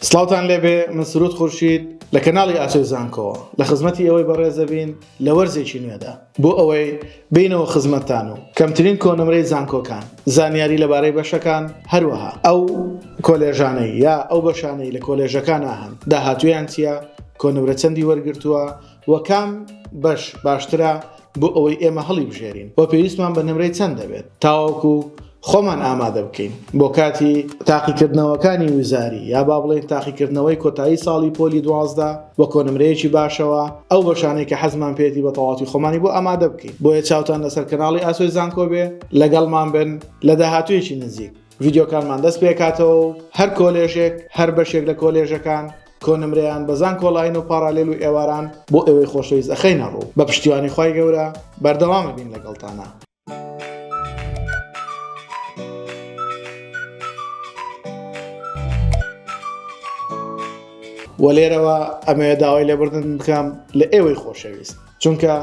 سڵاوتان لێبێ من سرود خورشید لە کەناڵی ئاسۆی زانکۆوە لە خزمەتی ئێوەی بەڕێز دەبین لە وەرزێکی نوێدا بۆ ئەوەی بێینەوە خزمەتتان و کەمترین کۆنمرەی زانکۆکان زانیاری لەبارەی بەشەکان هەروەها ئەو کۆلێژانەی یا ئەو بەشانەی لە کۆلێژەکانا هەن داهاتوویان چیە کۆنمرە چەندی وەرگرتووە وە کام بەش باشترە بۆ ئەوەی ئێمە هەڵیبژێرین وە پێویستمان بە نمرەی چەند دەبێت تاوەکو خۆمان ئامادە بکەین بۆ کاتی تاقیکردنەوەکانی وزاری یا با بڵێن تاقیکردنەوەی کۆتایی ساڵی پۆلی دوازدە بە کۆنمرەیەکی باشەوە ئەو بەشانەی کە حەزمان پێێتی بە تەواتی خۆمانی بۆ ئامادە بکەین بۆیە چاوتان لەسەر کەناڵی ئاسۆی زانکۆ بێ لەگەڵمان بن لە داهاتوێکی نزیک ڤیددیوکانمان دەست پێکاتەوە هەر کۆلێژێک هەر بەشێک لە کۆلێژەکان کۆ نمرەیان بە زانکۆ ڵاین و پاڕالێل و ئێواران بۆ ئێوەی خۆشەویست ئەخەینە ڕوو بە پشتیوانی خوای گەورە بەردەوامە بین لەگەڵتانە. وە لێرەوە ئەمەوێ داوای لێبوردن بکەم لە ئێوەی خۆشەویست. چونکە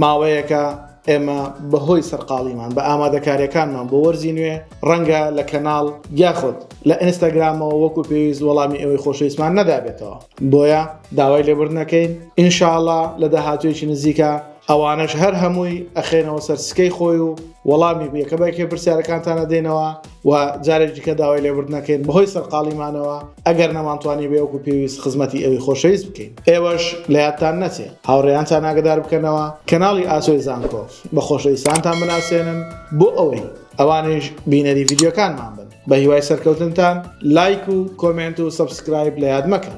ماوەیەکە ئێمە بەهۆی سەرقاڵیمان بە ئامادەکاریەکانمان بۆ وەرزی نوێ ڕەنگە لە کەناڵ یاخود لە ئینستاگرامەوە وەکو پێویست وەڵامی ئەوەی خۆشەویستمان نەدابێتەوە بۆیە داوای لێبوردنەکەین ئینشاءڵا لە داهاتوێکی نزیکە ئەوانەش هەر هەمووی ئەخێنەوە سەرسکەی خۆی و وەڵامی بێکەبەکێ پرسیارەکانتانە دێنەوە و جارێک دیکە داوای لێبوردنەکەین بەهۆی سەرقاڵیمانەوە ئەگەر نەمانتوانی بەوەکو پێویست خزمەتی ئەوی خۆشەویست بکەین ئێوەش لە یادتان نەچێ هاوڕێیانتان ئاگەدار بکەنەوە کەناڵی ئاسۆی زانکۆ بە خۆشەویستانتان بناسێنن بۆ ئەوەی ئەوانیش بینەری ڤیدیۆکانمان بن بە هیوای سەرکەوتنتان لایک و کۆمێنت و سەبسکرایب لە یاد مەکەن.